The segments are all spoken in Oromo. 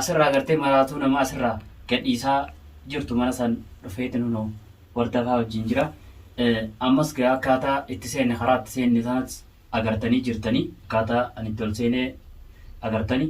Asirraa agartee maraatuu nama asirraa gadhiisaa jirtu mana san dhufeetin hunoo wardafaa wajjiin jira. Ammas gaa akkaataa itti seenne karaa itti seenne sanas agartanii jirtanii akkaataa ani itti ol seenee agartani.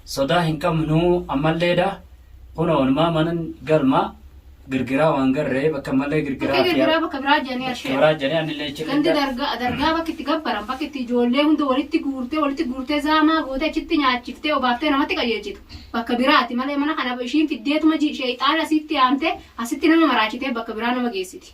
Sodaa hin qabnu ammalleedha. Kunoo onumaa manan galmaa girgiraa waan garree bakka malee girgiraa Bakka fi gargaraa bakka biraa jedhanii ashee. kibiraa jedhee anillee achi Gandi irra dargaa dargaa bakki itti gabbaran bakki itti ijoollee hunda walitti guurtee walitti guurtee zaamaa gootee achitti nyaachiftee obaaftee namatti qajeelchitu bakka biraati malee mana kana ishiin fiddeetuma ji- sheeyxaana asitti yaamtee asitti nama maraachitee bakka biraa nama geessiti.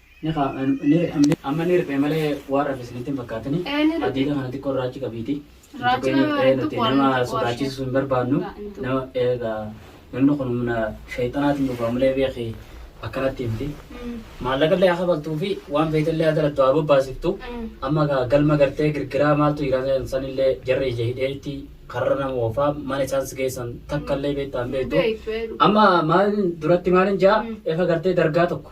Ni ka, ni ri, am, amma ni riphee malee waan rafe isinitti hin fakkaatini. Ee, ni riphee. Hadiida kana xiqqoo irraa achi qabiiti. Hin Raacha tuqini. nama Ee, hin nuti tuqu waan nama hin tuqu ashee. sodaachisu hin barbaannu. Hin tuqu. Nama eegaa namni kun humna shayxanaatiin dhufa malee beeki akkanatti miti. Mm. Maallaqallee haa kafaltuu fi waan feetellee haa dalattu haa bobbaasiftu. Mm. Amma gaa galma gartee girgiraa maaltu jira san- sanillee jarri ija hidheetti karra nama oofaa mana isaan si geessan takkallee beektaa hin beektu. Beektu, ee, dhugaa. Amma maalin duratti maalin jaa Mm. efa gartee dargaa tokko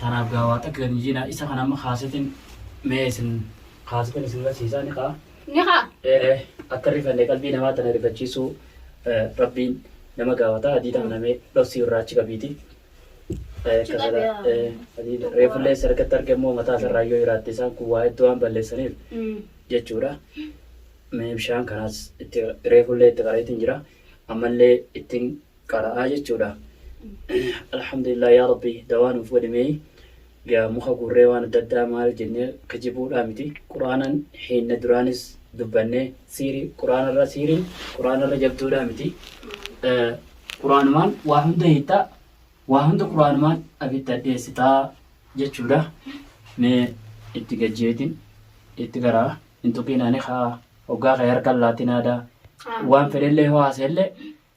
Tanaaf gaa waa takka gad hin jiinaa isa kan amma kaasetin mee isin kaasetin isin garsiisaa ni kaa. Ni kaa. Ee ee akka rifanne qalbii namaa tana rifachiisuu rabbiin nama gaafata adii tana namee dhossii irraa achi qabiiti. Reefullee isa argatti arge immoo mataa isa irraa yoo hiraatte isaan kun waa hedduu waan balleessaniif jechuudha. Mee bishaan kanaas itti reefullee itti qareetiin jira ammallee ittiin qara'aa jechuudha. Alhamdulillah yaa Rabbi dawaa nuuf godhi mee gaa muka guurree waan adda addaa maal jennee kijibuudhaa miti quraanan hiinne duraanis dubbanne siiri quraanarra siiriin quraanarra jabduudhaa miti quraanumaan waa hunda hiittaa waa hunda quraanumaan abidda dheessitaa jechuudha mee itti gajjeetiin itti garaa hin tuqiinaani haa hoggaa kee harkan laatinaadaa waan fedhellee hoo haasellee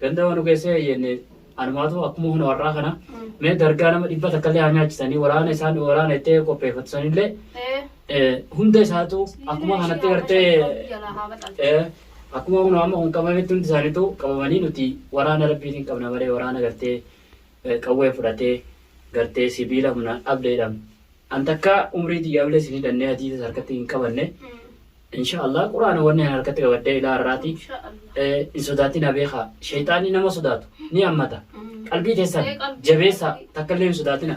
Ganda manu keessee eeyyenne anumaatu akkuma huna warraa kana mee dargaa nama dhibba takka illee haa nyaachisanii waraana isaan waraana itti qopheeffatu sanillee hunda isaatu akkuma kanatti gartee akkuma huna amma kun qabametti hundi isaaniitu qabamanii nuti waraana rabbiitiin qabna malee waraana gartee qawwee fudhatee gartee sibiila humnaan dhabdeedhaam an takkaa umrii tiyyaa bilee sin hidhannee hadiisas harkatti hin qabanne insha Allah quraana wanni an harkatti qabaddee ilaa har'aati Insha Allah. eh, hin sodaatina beekaa shayxaanni nama sodaatu ni hammata qalbii teessan Ee, qalbii jabeessa keessatti. takka illee hin sodaatina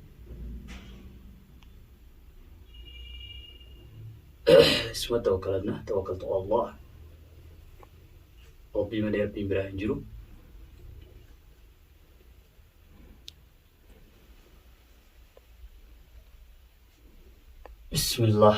isuma tawakkalanna tawakkaltu Allah rabbii malee rabbiin biraa hin jiru bismillah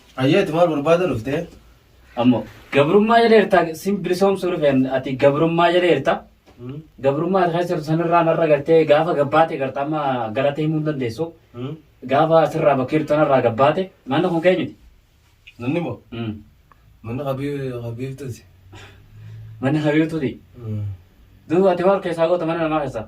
Hayyee ati maal barbaada dhuftee? Ammoo gabrummaa jala jirta sin bilisoomsuu dhufeen ati gabrummaa jala jirta. Gabrummaa ati keessa jirtu sanirraa narra gartee gaafa gabbaate garta amma galata himuu hin dandeessu. Gaafa asirraa bakka jirtu sanarraa gabbaate manni kun kee miti. Manni moo? Mm. Manni habiibtuuti. Manni habiibtuuti. Duuba ati maal keessaa goota mana namaa keessaa?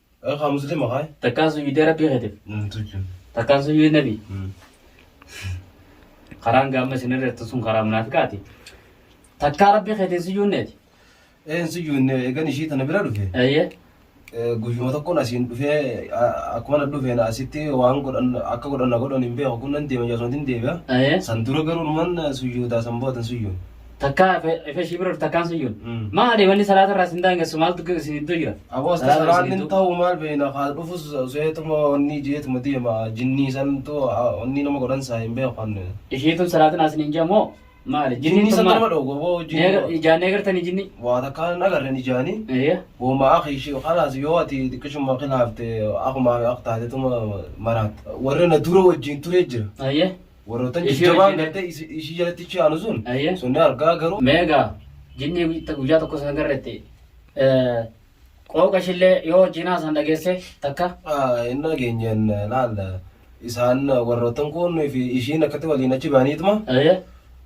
Haa muslima haa. Takkaan sujuudee rabbii keetiif. Tujjin. Takkaan sujuudee nabii. Karaan gaamma isin irra jettu sun karaa munaafiqaati. Takkaa rabbii keetiin sujuudneeti. Een sujuudne eegan ishii tana bira dhufe. Eeyyee. Guyyuma tokkoon asiin dhufee akkuma na dhufeen asitti waan godhan akka godhan na godhan hin beeku kun nan deema jaasumatiin deebi'a. Eeyyee. San dura garuu numan sujuudaa san boodan sujuun. Takkaa ifa ishii bira takkaan sun jiru. Mm. Maali wanni salaata irraa isin daangessu maaltu isin gidduu jira? Aboo Salaata isin salaanni gidduu- ta'u maal beekna kaal dhufus seetuma onni jeetuma deema jinnii santu onni nama godhan saa hin beekan. Ishiitun salaatin asin hin jamoo maali? Jinnii Jinniin san tun nama maali? dhoogu aboo Neegar- jinnii Ijaan eegartanii jinnii? waa takkaa hin agarren ijaanii. Eeyyee. Goma akhi shi khalas yoo ati xiqqishuma khilaafte akuma akka taatetuma maraat warri na dura wajjin ture jira Eeyyee. Warroota Ishee jajjabaan wajjin- gartee isi- ishii jalatti ichi aanu sun Ayyee. sunni argaa garuu Meegaa jinnii guyyaa- guyyaa tokko san garretti qooqa ishillee yoo jinaa san dhageesse takka Ah, hin dhageenyeen laal isaan warroottan kun fi ishiin akkatti waliin achi ba'aniituma Ayyee.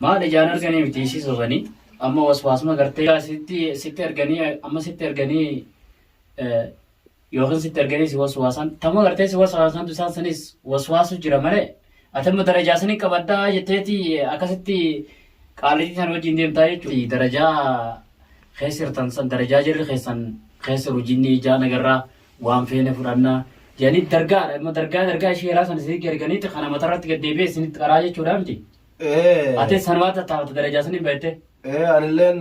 Maal ijaan arganii miti isii sobanii amma waswaasuma gartee yaa sitti sitti arganii amma sitti arganii eh, yookiin sitti arganii si waswaasan tamma gartee si waswaasan tu isaan sanis waswaasu jira malee ati amma darajaa sanii qabaddaa jetteeti akkasitti qaalitii san wajjin deemtaa jechuudha. Darajaa keessirtan san darajaa jirri keessan keessa rujinni ijaa nagarraa waan feene fudhannaa jedhanii dargaadha amma dargaa dargaa ishee eraa sana isinitti arganiiti kana matarratti gad deebi'ee isinitti qaraa jechuudha miti. Ee. Atis sanumaa tattaafata darajaa saniin bahettee. Ee anilleen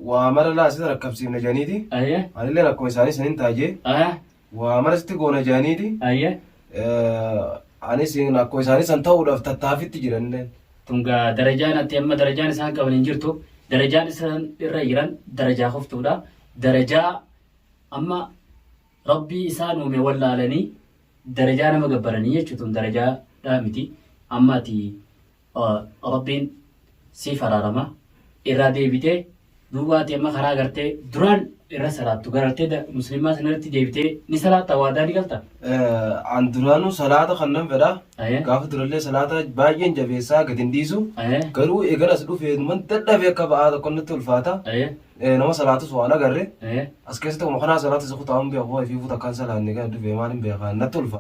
waa mara laa sitti rakkabsiifna jedhaniiti. Ayyee. Anilleen akkuma isaanii saniin taajee Ahaa. waa mara sitti goona jedhaniiti. Ayyee. Anis akkuma isaanii san ta'uudhaaf tattaafitti jiranilleen. Tungaa darajaan ati amma darajaan isaan qaban hin jirtu. Darajaan isaan irra jiran darajaa koftuudha. Darajaa amma Rabbii isaan uume wallaalanii darajaa nama gabbaranii jechu tun darajaa dhaa miti amma ati rabbiin siif araarama irraa deebitee duuba ati amma karaa gartee duraan irra salaattu garartee muslimaa sanarratti deebitee ni salaatta waadaa ni galta. An duraanuu salaata kan nan fedha. Gaafa durallee salaata baay'een jabeessaa gadi hin dhiisu. Garuu eegalas dhufee numan dadhabee akka ba'aa tokko natti ulfaata. Eh, nama salaatus waan agarre Eh. as keessatti akkuma kanaa salaata isa kutaa hin beeku ifii fuuta akkaan salaanne gadi dhufee maal hin beekaan natti ulfa.